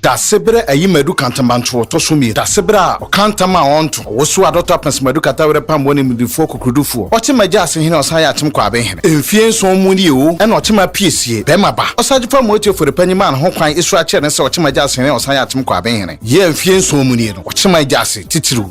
Dasebere ayi madu kantambantoɔ tɔ so mmienu. Dasebere a ɔka ntam a ɔnto. Ɔwoso a dɔtɔ apɛnso madu kata werɛ pam wɔ animdefoɔ kokurudufoɔ. Ɔkyema gya ase hene ɔsan yɛ akyem kɔ aben hene. Mfie nson mu nie o ɛna ɔkyema pie sie. Bɛɛma ba. Ɔsagye fa moetie fori panyin maa ne ho kwan esura kyerɛ ne sɛ ɔkyema gya ase hene ɔsan yɛ akyem kɔ aben hene. Yɛ mfie nson mu nie no ɔkyema gya ase titiriw.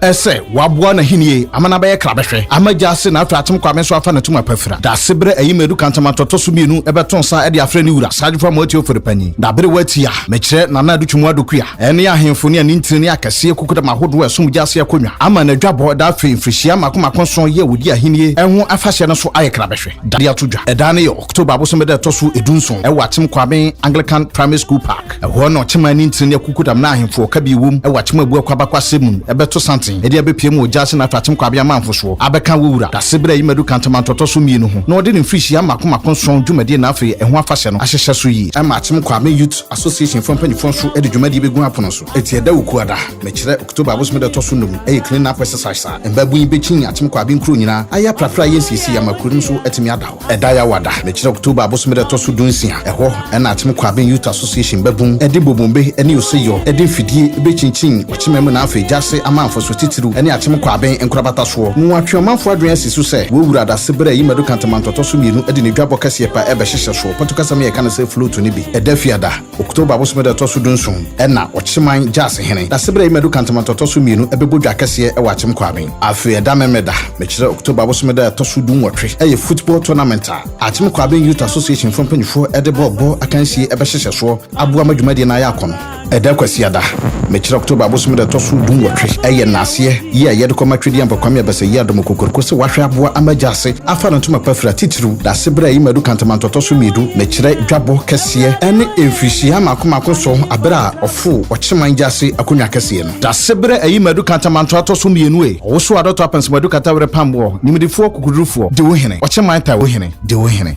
ɛsɛ waboa n'ahennie ama no abɛyɛ krabɛhwɛ ama gya ase na afei atem kwame nso afa n'atum apafira dase berɛ ayi madu kantamanto tɔ so mmienu ɛbɛto nsa ɛde afrɛ ne wura sagyefo amoati ofori panyin na bere wati a mekyerɛ nana adu twemu adokua ɛne ahemfo ne anintini ne akɛseɛ kukudam ahodoɔ ɛsom gya ase akonnwa ama n'adwabɔ ɛda afei mfirihyia mako mako nson yɛ wɔdi ahennie ɛho afahyɛ no so ayɛ krabɛhwɛ dade ato dwa ɛda no yɛ october abosome da ɛtɔ so edu nson ɛwɔ atem kwame anglican primary school park Ɛhɔ na ɔkyema ne ntini ne akukudam ne ahemfo a ɔkabi wom wɔ akyema bu akwabakwasɛm mu no bɛto santen de abepue ma ogya ase na afei akyem kɔ abea amanfo soɔ abɛka wɔ wura dase bere a eyi madu kantamanto a ɛtɔ so mmienu ho na ɔde ne mfirihyia mmaako mmaako nson dwumadie na afei ɛho afahyɛ no ahyehyɛ so yie. Ɛma akyem kɔ Ame Youth Association foɔ mpanyinfoɔ nso de dwumadie bɛgu apono so. Eti ɛda Wukuada, mekyerɛ, October abosome da ɛtɔ so nnum, ɛyɛ clean up exercise a mmaabun yi bɛkyin akyem kɔ Abe nkuro nyinaa ayɛ aprapra ayɛ nsiesie ama kuro no nso atumi ada. Ɛda Yawada, mekyerɛ October abosome da ɛtɔ so dunsia. Ɛhɔ na Akyem Kwabin Youth Association bɛbom de bobombe ne oseyɔ de mfidie bɛkyinkyin ɔkyema mu na afei gya ase ama mfasoɔ titiriw ne Akyem Kwabin nkorabata soɔ. Wɔatwe ɔmanfoɔ adwene asi so sɛ wɔawura adase berɛ a ayi Madu Kantamanto tɔ so mmienu de ne dwabɔ kɛseɛ pɛ rebɛhyehyɛ soɔ. Pɔtukasɛm yɛka no sɛ float no bi da fiada. October bosome da ɛtɔ so dunson na Ɔkyeman Gyasi Hene Dasebere Ayimadu Kantaman to ɔtɔ so mmienu bɛbɔ dwa kɛseɛ wɔ Akyem Kwaben. Afei ɛda Memeneda, mekyerɛ October bosome da ɛtɔ so dunwɔtwe yɛ football tournament a Akyem Kwaben Youth Association foɔ mpanimfoɔ de bɔɔl bɔ akansie bɛhyehyɛ soɔ aboa ma dwumadie no ayɛ akɔnɔ. Ɛda Kwasiada, mekyerɛ October bosome da ɛtɔ so dunwɔtwe yɛ nnaaseɛ yi a yɛde kɔma Twedeambɔ Kwame Abasɛyi-Adomo Kokoroko sɛ wahwɛ aboa ama agya ase afa no ntoma pa fira titiriw Dasebere a eyi ma edu kantamanto ɔtɔ so mmiɛdu na ɛkyerɛ dwabɔ kɛseɛ ne mfirihyia mmaako mmaako nson bere a ɔforo ɔkyeman agya ase akonnwa kɛseɛ no. Dasebere a eyi ma edu kantamanto atɔ so mmienu e Ɔwosoɔ adɔtɔ apansam adu kata were pam boɔ Nimdefoɔ kokodurufoɔ Dewo hene Ɔkyeman tae wo hene Dewo hene.